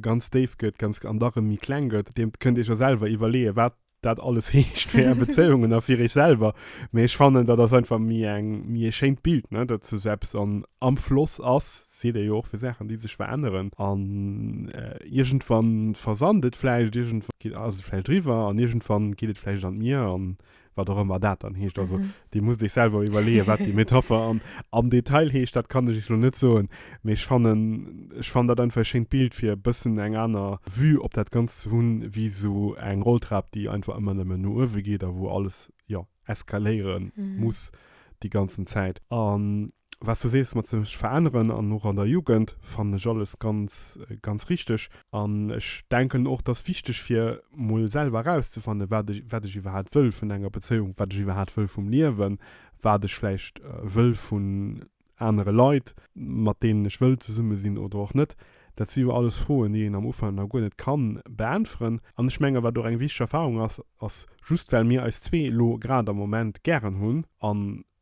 ganz déif gëtt, ganz, an da rëm méi kleng gëtt. Deem kënnt Iech jo selwer iwwerleeë wat dat alles heescht fir Är Bezéiungen a fir Iech selwer. Mee ech fannen, dat ass einfach méi eng, méi e schéint Bild, ne, dat sou eppes an, am Floss ass, seet ee jo och fir Saachen, déi sech veränneren, an iergendwann versand et vläicht, iergendwann ass et vläicht eriwwer an iergendwann geet et vläicht an d'Mier an wat och ëmmer dat dann heescht. Also Dir musst Iech selwer iwwerleeën, wat déi Metapher am, am Detail heescht, dat kann ech Iech elo net soen, mee ech fannen, ech fannen dat einfach e schéint Bild, fir e bëssen eng aner Vue op dat Ganzt ze hunn, wéi esou eng Rolltrap, déi einfach ëmmer nëmmen no uewe geet a wou alles, jo. eskaléiere muss déi ganzen Zäit. An was du sees mat sech veränneren an och an der Jugend, fannen ech alles ganz, ganz richteg. An ech denken och, dass wichteg fir mol selwer erauszefannen, wat ech, wat ech iwwerhaapt wëll vun enger Bezéiung, wat ech iwwerhaapt wëll vum Liewen, wat ech vläicht wëll vun, anere Leit, mat deenen ech wëll zesumme sinn oder och net, dat si jo alles Froen, déi een am Ufank nach guer net ka beäntweren. An ech menge wat och eng wichteg Erfarung ass, ass, just well mir eis zwee elo grad am Moment gären hunn a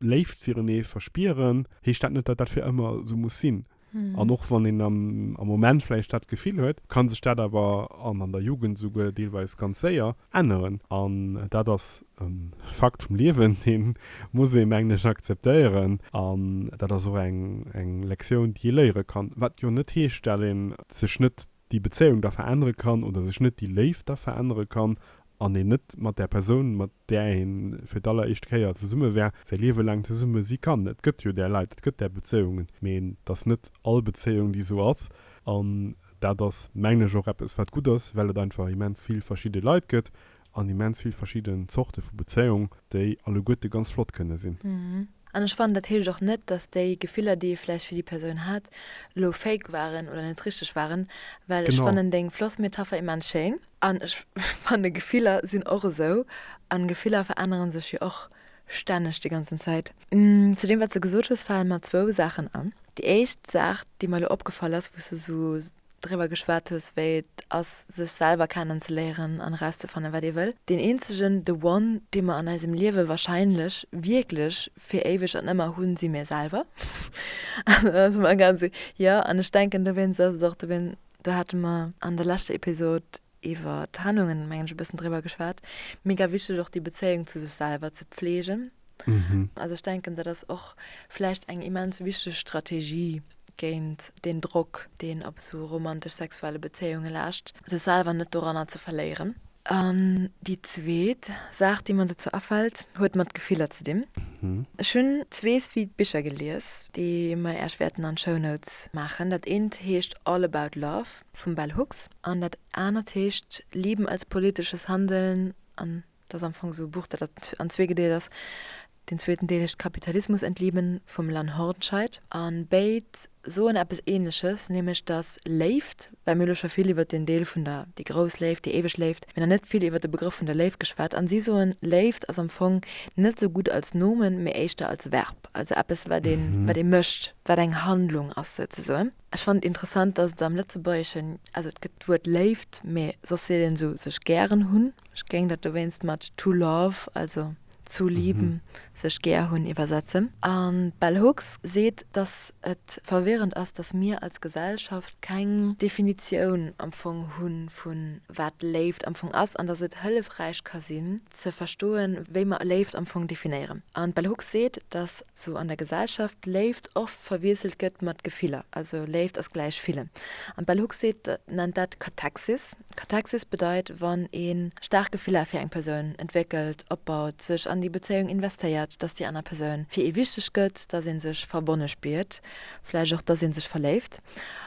Léift firenee verspieren, heescht dat net, datt dat fir ëmmer esou muss sinn. An och wann een am Moment vläicht dat Gefill huet, ka sech dat awer, an an der Jugend esouguer deelweis ganz séier, änneren. An dat ass e Fakt vum Liewen, dee muss ee mengen ech akzeptéieren. An dat ass och eng Lektioun, déi ee léiere kann. Wat jo net heescht, dat ee sech net déi Bezéiung da verännere kann oder sech net déi Léift da verännere kann an een net mat där Persoun, mat där ee fir d'alleréischt Kéier zesumme war, säi Liewe laang zesumme si kann. Et gëtt jo där Leit, et gëtt där Bezéiungen, mee et ass net all Bezéiung, déi esou ass. An Dat ass, mengen ech, och eppes, wat gutt ass, well et einfach immens vill verschidde Leit gëtt an immens vill verschidden Zorte vu Bezéiung, déi alleguerte ganz flott kënne sinn. An ech fannen, dat heescht och net, dass déi Gefiller, déi ee vläicht fir déi Persoun hat, elo fake waren oder net richteg waren, well ech fannen deng Flossmetapher immens schéin. An ech fanne Gefiller sinn och esou, an Gefiller verännere sech jo och. Stänneg, déi ganzen Zäit. Zu deem, wat s de gesot hues, falen mer zwou Saachen an. Déi éischt Saach, déi mer elo opgefall ass, wou s de sou driwwer geschwat hues, wéi et ass, sech selwer kennenzeléieren an erauszefannen, wat ee wëll. Deen eenzegen The One, dee mer an eisem Liewe wahrscheinlech wierklech fir éiweg an ëmmer hunn, si mir selwer. An dann ass et mer egal, sou, jo. An ech denken, dowéinst ass et och, dowéinst, do hate mer an der leschter Episod Iwwer Trennungen, mengen ech, e bëssen driwwer geschwat. Mega wichteg och déi Bezéiung zu sech selwer ze pflegen. Also ech denken, dat ass och vläicht eng immens wichteg Strategie géint deen Drock, deen op esou romantesch-sexuelle Bezéiunge laascht, sech selwer net doranner ze verléieren. An déi zweet Saach, déi mer dozou afält, huet mat Gefiller ze dinn. Ech hunn zwee sweet Bicher gelies, déi mer Iech wäerten an d'Shownotes maachen. Dat eent heescht All about love. vum Bell Hooks. An dat anert heescht Lieben als politisches Handeln an dat ass am Fong esou e Buch, dat an zwee gedeelt ass. Deen zweeten Deel heescht Kapitalismus entlieben vum Lan Hordenscheid. An béid soen eppes Ähnleches, nämlech dass Léift, well mir elo scho vill iwwert deen Deel vun der, déi grouss Léift, déi éiweg Léift, mee nach net vill iwwert de Begrëff vun der Léift geschwat. An si soen, Léift ass am Fong net esou gutt als Nomen, mee éischter als Verb, also eppes wat ee mécht, wat eng Handlung ass souzesoen. Ech fannen et interessant, dass et am Lëtzebuergeschen, also et gëtt d'Wuert Léift, mee soss seet een esou sech gären hunn. Ech géing dat dowéinst mat to love, also zu lieben, sech gär hunn, iwwersetzen. An d'Bell Hooks seet, dass et verwirrend ass, dass mir als Gesellschaft keng Definitioun am Fong hu vu wat Léift am Fong ass an dass et hëllefräich ka sinn, ze verstoen, wéi mer Léift am Fong definéieren. An d'Bell Hooks seet, dass sou an der Gesellschaft Léift oft verwiesselt gëtt mat Gefiller, also Léift ass gläich fillen, an d'Bell Hooks seet nennt dat Kataxis. Kataxis bedeit wann ee staark Gefiller fir eng Persoun entwéckelt, opbaut, sech an déi Bezéiung investéiert, datt déi aner Persoun fir ee wichteg gëtt, datt ee sech verbonne spiert, vläicht och datt ee sech verléift,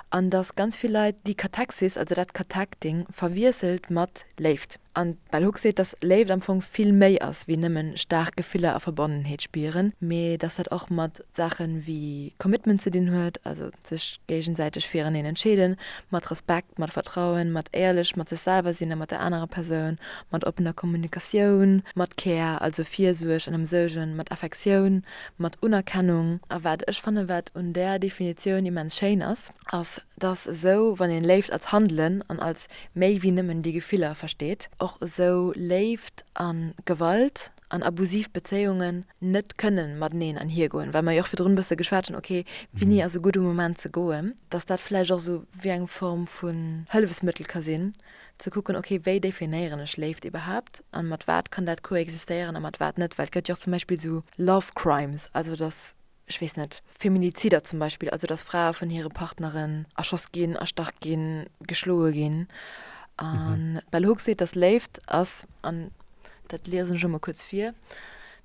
an datt ganz vill Leit déi Kataxis, also dat Katacting, verwiesselt mat Léift. An d'Bell Hooks seet, dass Léift am Fong vill méi ass wéi nëmmen staark Gefiller a Verbonnenheet spieren, mee dass dat och mat Saachen wéi Commitment ze dinn huet, also sech géigensäiteg fireneen entscheeden, mat Respekt, mat Vertrauen, mat éierlech mat sech selwer sinn a mat der anerer Persoun, mat oppener Kommunikatioun, mat Care, also Virsuerg an Ëmsougen, mat Affektioun, mat Unerkennung. A wat ech fannen, wat un där Definitioun immens schéin ass, ass, dass esou wann een Léift als Handelen an als méi wéi nëmmen déi Gefiller versteet, och esou Léift a Gewalt an abusiv Bezéiungen net kënnen mateneen anhier goen, well mer jo och virdrun e bësse geschwat hunn, ok, wéini ass e gudde Moment ze goen, dass dat vläicht och esou wéi eng Form vun Hëllefsmëttel ka sinn, ze kucken, ok, wéi definéieren ech Léift iwwerhaapt a mat wat kann dat koexistéieren a mat wat net, well et gëtt jo och zum Beispill esou Love Crimes, also dass ech weess net, Feminizider zum Beispill, also datt Frae vun hire Partneren erschoss ginn, erstach ginn, geschloe ginn. A Bell Hooks seet, datt Léift ass, an dat liesen ech emol kuerz vir,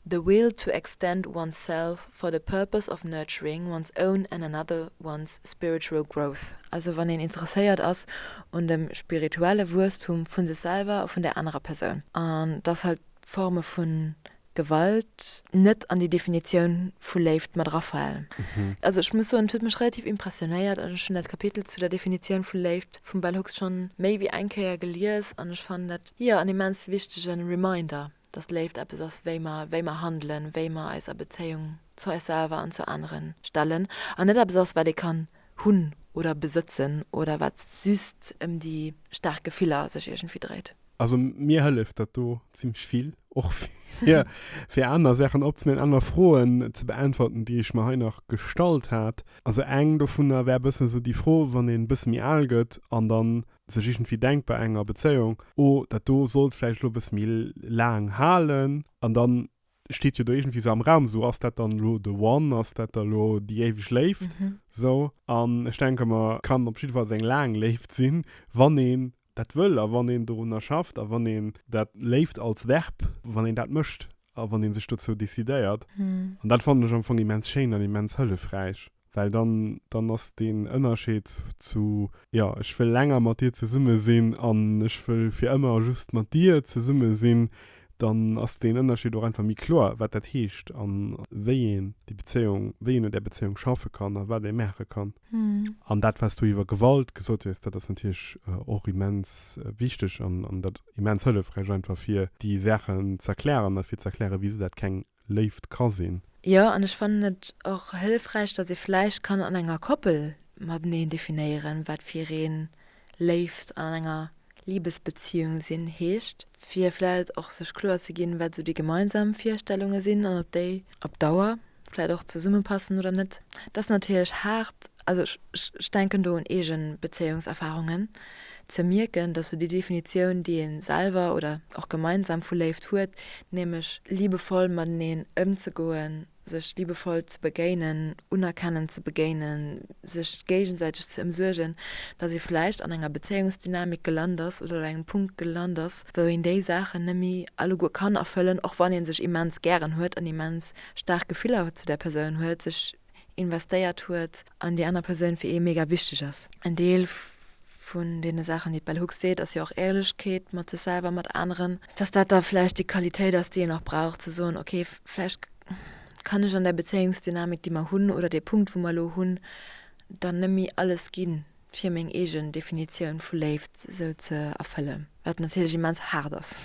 The will to extend one's self for the purpose of nurturing one's own and another one's spiritual growth, also wann een interesséiert ass un dem spirituelle Wuesstum vu sech selwer a vun där anerer Persoun. An datt halt d'Forme vun Gewalt net an déi Definitioun vu Léift mat erafalen. Also ech muss soen, et huet mech relativ impressionéiert an ech hunn dat Kapitel zu der Definitioun vu Léift vum Bell Hooks schonn méi wéi eng Kéier gelies an ech fannen dat, jo, en immens wichtege Reminder, dass Léift eppes ass, wéi mer, wéi mer handelen, wéi mer eis a Bezéiung zu eis selwer an zu aneren stellen an net eppes ass, wat ee kann hunn oder besëtzen oder wat just ëm déi staark Gefiller sech iergendwéi dréit. Also mir hëlleft dat do ziemlech vill, och fir, fir aner Saachen opzenemen, aner Froen ze beäntwerten, déi ech mer hei nach gestallt hat. Also eng dovunner wär e bëssen esou déi Fro, wann een e bësse méi al gëtt an da sech iergendwéi denkt bei enger Bezéiung, oh dat do sollt vläicht elo e bësse méi laang halen. An da steet jo do iergendwéi esou am Raum, esou ass dat dann elo the one, ass dat da elo déi éiweg Léift? Esou. An ech denke mer, et kann op jidde Fall eng laang Léift sinn, wann ee dat wëll a wann een dorunner schafft a wann een dat léift als Verb, wann een dat mécht a wann ee sech dozou decidéiert. An dat fannen ech am Fong immens schéin an immens hëllefräich, well dann, dann ass deen Ënnerscheed zu, jo, ech wëll länger mat dir zesumme sinn an ech wëll fir ëmmer just mat dir zesumme sinn, dann ass deen Ënnerscheed och einfach méi kloer, wat dat heescht a wéi een déi Bezéiung, wéi een un där Bezéiung schaffe kann a wat ee maache kann. An dat, wat s du iwwer Gewalt gesot hues, dat ass natierlech och immens wichteg an dat immens hëllefräich einfach, fir déi Saachen z'erklären a fir z'erklären, wisou dat keng Léift ka sinn. Jo, an ech fannen et och hëllefräich, datt ee vläicht kann an enger Koppel mateneen definéieren, wat fir een Léift an an enger Libesbeziung sinn heescht, fir vläicht och sech kloer ze ginn, wat esou déi gemeinsam Virstellunge sinn an ob déi op Dauer vläicht och zesummepassen oder net. Dat ass natierlech haart, also ech denken do un eege Bezéiungserfarungen, Ze mierken, dass sou déi Definitioun, déi ee selwer oder och gemeinsam vu Léift huet, nämlech liebevoll mateneen ëmzegoen, sech liebevoll ze begéinen, unerkennend ze begéinen, sech géigesäiteg ze ëmsuergen, dass ee vläicht an enger Bezéiungsdynamik gelant ass oder op engem Punkt gelant ass, wou een déi Saachen net méi alleguer kann erfëllen, och wann ee sech immens gären huet an immens staark Gefiller zu där Persoun huet, sech investéiert huet. an déi aner Persoun fir ee mega wichteg ass. En Deel vun deene Saachen, déi d'Bell Hooks seet, ass jo och Éierlechkeet mat sech selwer, mat aneren. Dass dat da vläicht déi Qualitéit ass, déi een och brauch, ze soen, okay, vläicht kann ech an där Bezéiungsdynamik, déi mer hunn, oder dee Punkt, wou mer elo hunn, dann nëmme alles gi fir meng eegen Definitioun vu Léift esou ze erfëllen. Wat natierlech immens haart ass.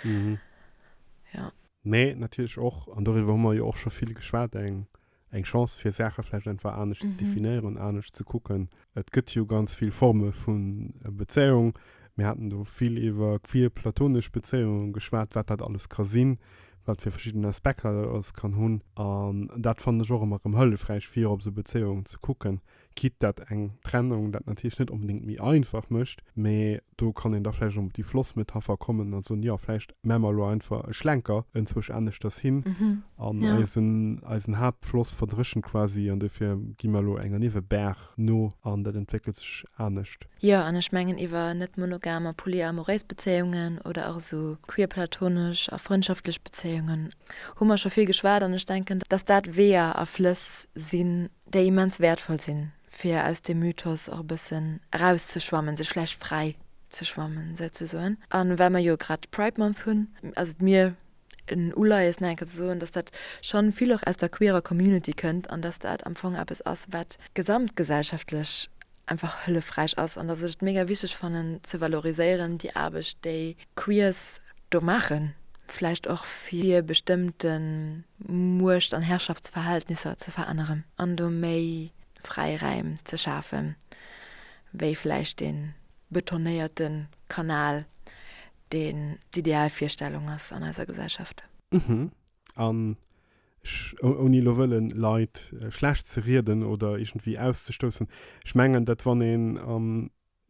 Jo. Mee natierlech och, an doriwwer hu mer jo och scho vill geschwat, eng eng Chance fir Saache vläicht einfach anescht ze definieren, anescht ze kucken. Et gëtt jo ganz vill Forme vun Bezéiung. Mir haten do vill iwwer queer platonesch Bezéiungen geschwat, wat dat alles ka sinn, wat fir verschidden Aspekter dat alles kann hunn. An dat fannen ech och ëmmer erëm hëllefräich fir op esou Bezéiungen ze kucken. quitte dat eng Trennung dat natierlech net onbedéngt méi einfach mécht, mä do kann een da vläicht op déi Flossmetapher kommen a soen, jo, vläicht maa mer elo einfach e Schlenker enzwësch aneschters hin an eisen, eisen Haaptfloss verdréchent quasi an duerfir gi mer elo enger Niewebaach no an dat entwéckelt sech anescht. Jo, an ech mengen iwwer net monogam a polyamoréis Bezéiungen oder och esou queer-platonesch a frëndschaftlech Bezéiungen hu mer scho vill geschwat an ech denken, dass dat Weeër a Flëss sinn, déi immens wäertvoll sinn, fir aus deem Mythos och e bëssen erauszeschwammen, sech vläicht fräi ze schwammen, souzesoen. A well mer jo grad Pride Month hunn, ass et mir en Uleies, nach eng Kéier ze soen, dass dat schonn vill och aus der queerer Community kënnt an dass dat am Fong eppes ass, wat gesamtgesellschaftlech einfach hëllefräich ass an dass ech et mega wichteg fannen ze valoriséieren, déi Aarbecht, déi Queers do maachen, vläicht och fir bestëmmte Muecht an Herrschaftsverhältnisser ze veränneren an do méi fräi Räim ze schafe wéi vläicht dee betonéierte Kanal, deen d'Idealvirstellung ass an eiser Gesellschaft. An ech, ouni elo wëllen Leit schlecht ze rieden oder iergendwéi auszestoussen, ech mengen dat wann een a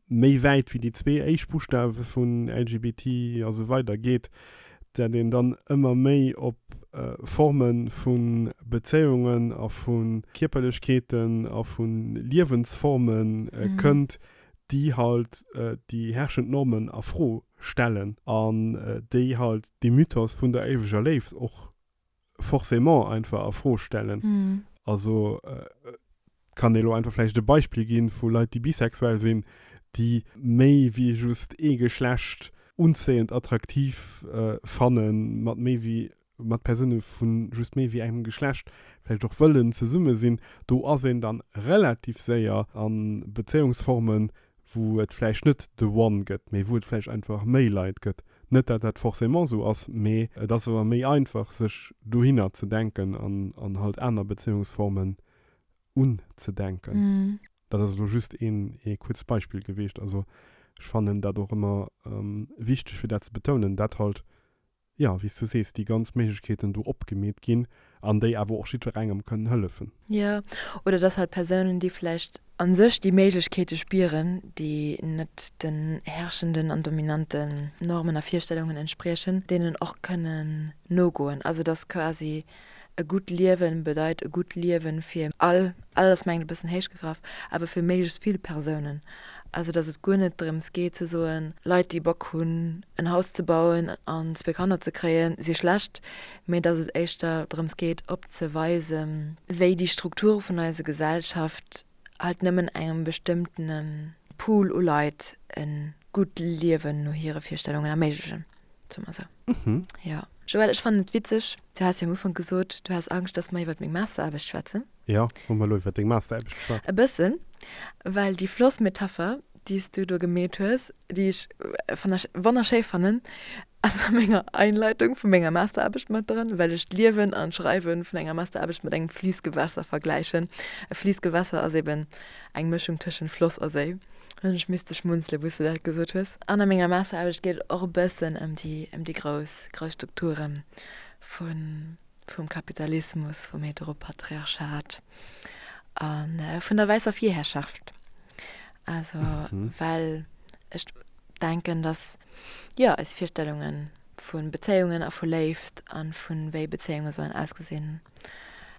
méi wäit wéi déi zwee éischt Buschtawe vun LGBT a sou weider geet, dat een dann ëmmer méi op Forme vu Bezéiungen a vu Kierperlechkeeten a vu Liewensforme kënnt, déi halt déi herrschend Normen a Fro stellen an déi halt dee Mythos vun der éiweger Léift och forcément einfach a Fro stellen. Mm. Also äh, kann dir lo einfach vielleicht ein Beispiel geben von Leuten, die bisexuell sind, die méi wie just e Geschlecht unzähend attraktiv äh, fannen, mat méi wie mat Personen von just méi wie engem Geschlecht vielleicht auch wollen zusammen sind, do ass een dann relativ séier an Beziehungsformen, wou et vläicht net the one gëtt, mee wou et vläicht einfach méi Leit gëtt. Net dat dat forcément esou ass, mee et ass awer méi einfach sech dohinner ze denken an halt aner Bezéiungsformen unzedenken. Dat ass elo just ee kuerzt Beispill geweecht. Also ech fannen dat och ëmmer wichteg fir dat ze betounen, dat halt jo, wéi s du sees, déi ganz Méiglechkeeten do opgemeet ginn an déi awer och jiddwerengem kënnen hëllefen. Jo, oder dass halt Persounen, déi vläicht a sech déi Méiglechkeete spieren, déi net den herrschenden an dominanten Normen a Virstellungen entspriechen, deenen och kënnen nogoen. Also dass quasi E gutt Liewen bedeit e gutt Liewen fir all, all ass mengt e bëssen héich gegraff, awer fir méiglechst vill Persounen. Also datt et guer net drëms geet ze soen, Leit déi Bock hunn en Haus ze bauen an zwee Kanner ze kréien si schlecht, mee datt et éischter drëms geet opzeweisen, wéi déi Strukture vun eise Gesellschaft, halt nëmmen engem bestëmmtene Pool u Leit e gutt Liewen no hire Virstellungen erméiglechen, soe mer esou. Jo. Joël, ech fannen et witzeg, du has jo am Ufank gesot, du has Angscht, dass mer iwwert meng Masteraarbecht schwätzen. Jo, hu mer elo iwwert deng Masteraarbecht geschwat. E bëssen, well déi Flossmetapher déi s du do gemeet hues, déi ech wonnerschéi fannen, ass a menger Einleitung vu menger Masteraarbecht mat dran, well ech d'Liewen an d'Schreiwe vun enger Masteraarbecht mat engem Fliissgewässer vergläichen. E Fliissgewässer ass eben eng Mëschung tëschent Floss a Séi. Hunn ech misste schmunzele wou s du dat gesot hues. An a menger Masteraarbecht geet et och e bëssen ëm déi grouss Strukture vum Kapitalismus, vum Heteropatriarchat a vun der wäisser Virherrschaft. Also mhm. well ech denken, dass ja eis Virstellungen vun Bezéiungen a vu Léift an vun wéi Bezéiunge sollen ausgesinn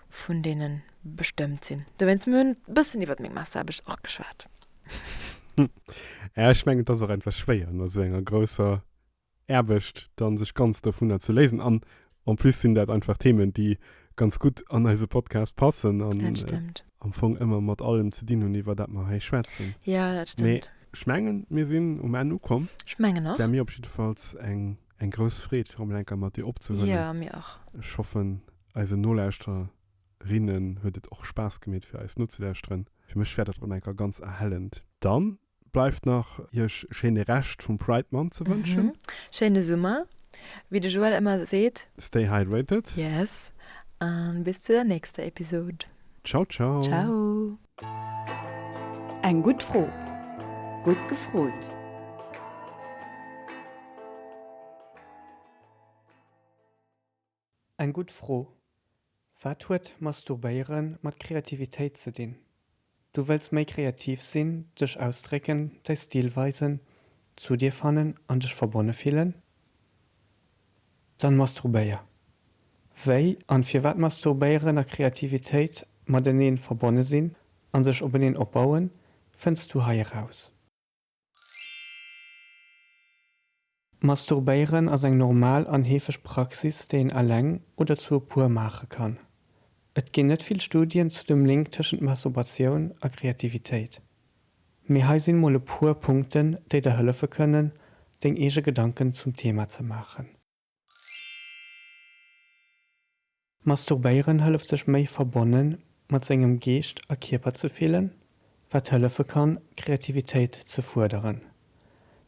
vun denen bestëmmt sinn. Da wenns mir hunn bëssen iwwer még Masse habe ich och geschwaart. Ech mengen dat ass och entwer schwéier no sou enger grousser Aarbecht dann sech ganz dovunner ze léisen an en plus sinn dat einfach Themen déi ganz gutt an eise Podcast passen an am Fong ëmmer mat allem ze dinn hunn iwwer dat mer hei schwätzen. Mee ech mengen mir sinn um Enn ukomm. War mir op jiddefalls eng eng grouss Freed fir emol eng Kéier mat dir opzehuelen. Ech hoffen eisen Nolauschterinnen huet et och Spaass gemeet fir eis nozelauschteren. Fir mech war dat rem eng Kéier ganz erhellend. Dann Bleift nach iech e schéine Rescht vum Pride Month ze wënschen. Schéine Summer, wéi de Joël ëmmer seet. Stay hydrated. Yes, a bis zu der nächster Episod. Ciao ciao. Ciao. Eng gutt Fro, gutt gefrot. Eng gutt Fro. Wat huet Masturbéiere mat Kreativitéit ze dinn? Du wëlls méi kreativ sinn, dech ausdrécken, däi Stil weisen, zu dir fannen an dech verbonne fillen? Dann masturbéier. Wéi an firwat Masturbéieren a Kreativitéit mateneen verbonne sinn an sech openeen opbauen, fënns du hei eraus. Masturbéieren ass eng normal an heefeg Praxis, déi een eleng oder zu e puer maache kann. Et ginn net vill Studien zu dem Link tëschent Masturbatioun a Kreativitéit. Mee hei sinn mol e puer Punkten, déi der hëllefe kënnen, deng eege Gedanken zum Thema ze maachen. Masturbéieren hëlleft sech méi verbonne mat sengem Geescht a Kierper ze fillen, wat hëllefe kann Kreativitéit ze fuerderen.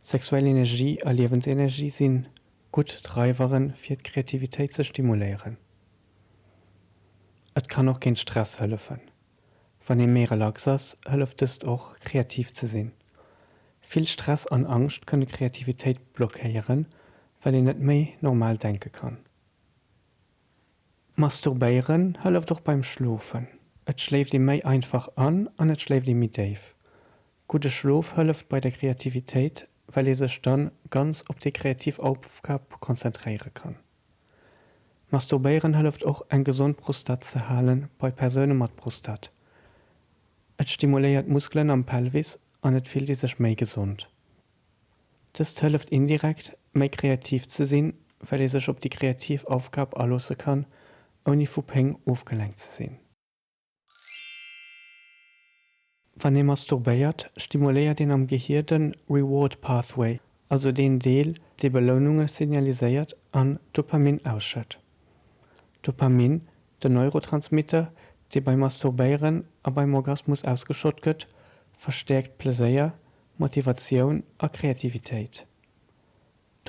Sexuell Energie a Liewensenergie sinn gutt Dreiveren fir d'Kreativitéit ze stimuléieren. Et kann och géint Stress hëllefen. Wann ee méi relax ass, hëlleft dëst och, kreativ ze sinn. Vill Stress an Angscht kënne Kreativitéit blockéieren, well een net méi normal denke kann. Masturbéieren hëlleft och beim Schlofen. Et schléift ee méi einfach an an et schléift ee méi déif. Gudde Schlof hëlleft bei der Kreativitéit, well ee sech dann ganz op déi kreativ Aufgab konzentréiere kann. Masturbéieren hëlleft och eng gesond Prostat ze halen bei Persoune mat Prostat. Et stimuléiert Muskelen am Pelvis an et fillt ee sech méi gesond. Dëst hëlleft indirekt méi kreativ ze sinn, well ee sech op déi kreativ Aufgab aloosse kann, ouni vu Péng ofgelenkt ze sinn. Wann ee masturbéiert, stimuléiert een am Gehier den Reward Pathway, also deen Deel, dee Beloununge signaliséiert an Dopamin ausschëtt. Dopamin, den Neurotransmitter, dee beim Masturbéieren a beim Orgasmus ausgeschott gëtt, verstäerkt Pleséier, Motivatioun a Kreativitéit.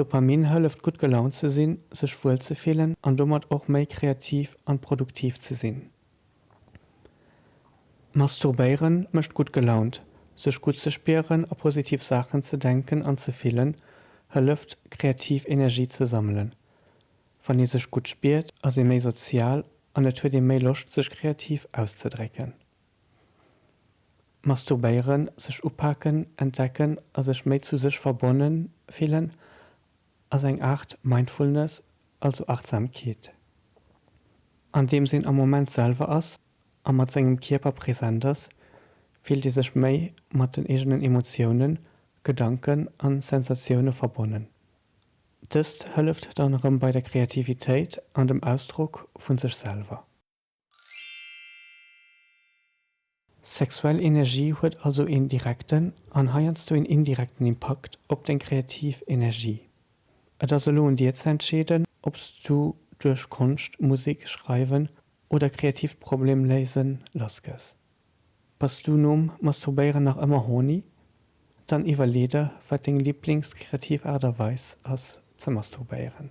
Dopamin hëlleft gutt gelaunt ze sinn, sech wuel ze fillen an domat och méi kreativ an produktiv ze sinn. Masturbéieren mécht gutt gelaunt, sech gutt ze spieren a positiv Saachen ze denken an ze fillen hëlleft kreativ Energie ze sammelen. Wann ee sech gutt spiert, ass ee méi sozial an et huet ee méi Loscht sech kreativ auszedrécken. Masturbéieren, sech upaken, entdecken a sech méi zu sech verbonne fillen ass eng Aart Mindfulness, also Achtsamkeet, andeems een am Moment selwer ass a mat sengem Kierper present ass, fillt ee sech méi mat den eegenen Emotiounen, Gedanken a Sensatioune verbonnen. Dëst hëlleft dann erëm bei der Kreativitéit an dem Ausdrock vu sech selwer. Sexuell Energie huet also een direkten an heiansdo een indirekten Impakt op deng kreativ Energie. Et ass elo un dir ze entscheeden, ob s du duerch Konscht, Musek, Schreiwen oder kreatiivt Problem léisen lassgëss. Bass du nom Masturbéieren nach ëmmer horny? Dann iwwerlee der, wat deng Liblings-kreativ Aart a Weis ass ze masturbéieren.